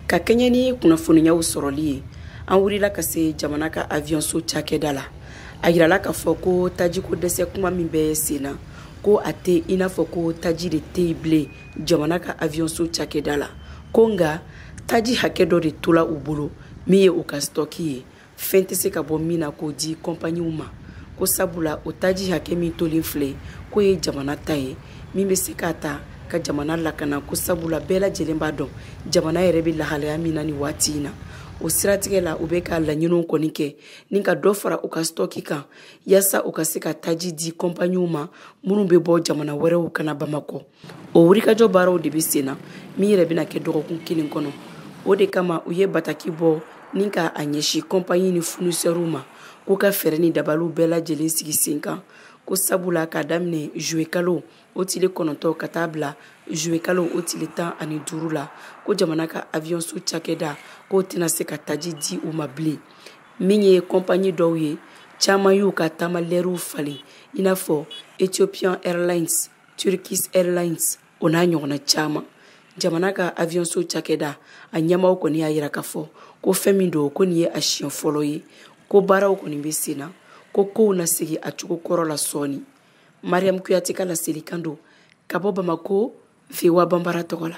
ka kɛɲɛ ni kunnafoniyaw sɔrɔli ye an wulila ka se jamana ka aviyɔnso cakɛda la a yirala k'a fɔ ko tajiko dɛsɛ kuma min bɛ sen na ko a tɛ i n'a fɔ ko taji de tɛ yen bilen jamana ka aviyɔnso cakɛda la ko nka taji hakɛ dɔ de tola u bolo min ye u ka sitɔki ye fɛn tɛ se ka bɔ min na k'o di kɔnpaniw ma ko sabula o taji hakɛ min tolen filɛ k'o ye jamana ta ye min bɛ se k'a ta ka jamana lakana ko sabula bɛɛ lajɛlen b'a dɔn jamana yɛrɛ bɛ lahalaya min na nin waati in na o siratigɛ la u bɛ ka laɲiniw kɔni kɛ ni ka dɔ fara u ka sitɔki kan yaasa u ka se ka taji di kɔnpaniw ma minnu bɛ bɔ jamana wɛrɛw ka na bamakɔ o wulikajɔ baaraw de bɛ sen na min yɛrɛ bɛna kɛ dɔgɔkun kelen kɔnɔ o de kama u ye bataki bɔ ni ka a ɲɛsin kɔnpanyi ni funisɛriw ma k'u ka fɛɛrɛ ni dabaliw bɛɛ lajɛlen sigi sen kan ko sabula k'a daminɛ zuwekalo o tile kɔnɔntɔn ka taa bila zuwekalo o tile tan ani duuru la ko jamana ka aviyɔnso cakɛda k'o tɛna se ka taji di u ma bilen min ye kɔnpanyi dɔw ye caman y'u ka taamalɛriw falen i n'a fɔ ethiopian airlines turkish airlines o n'a ɲɔgɔnna caman jamana ka aviyɔnso cakɛda a ɲɛmaaw kɔni y'a yira k'a fɔ ko fɛn min don ko nin ye a siɲɛ fɔlɔ ye ko baaraw kɔni bɛ sen na ko kow na segi a cogo kɔrɔ la sɔɔni mariyamu kuyate ka laselikan don ka bɔ bamakɔ voa banbara tɔgɔ la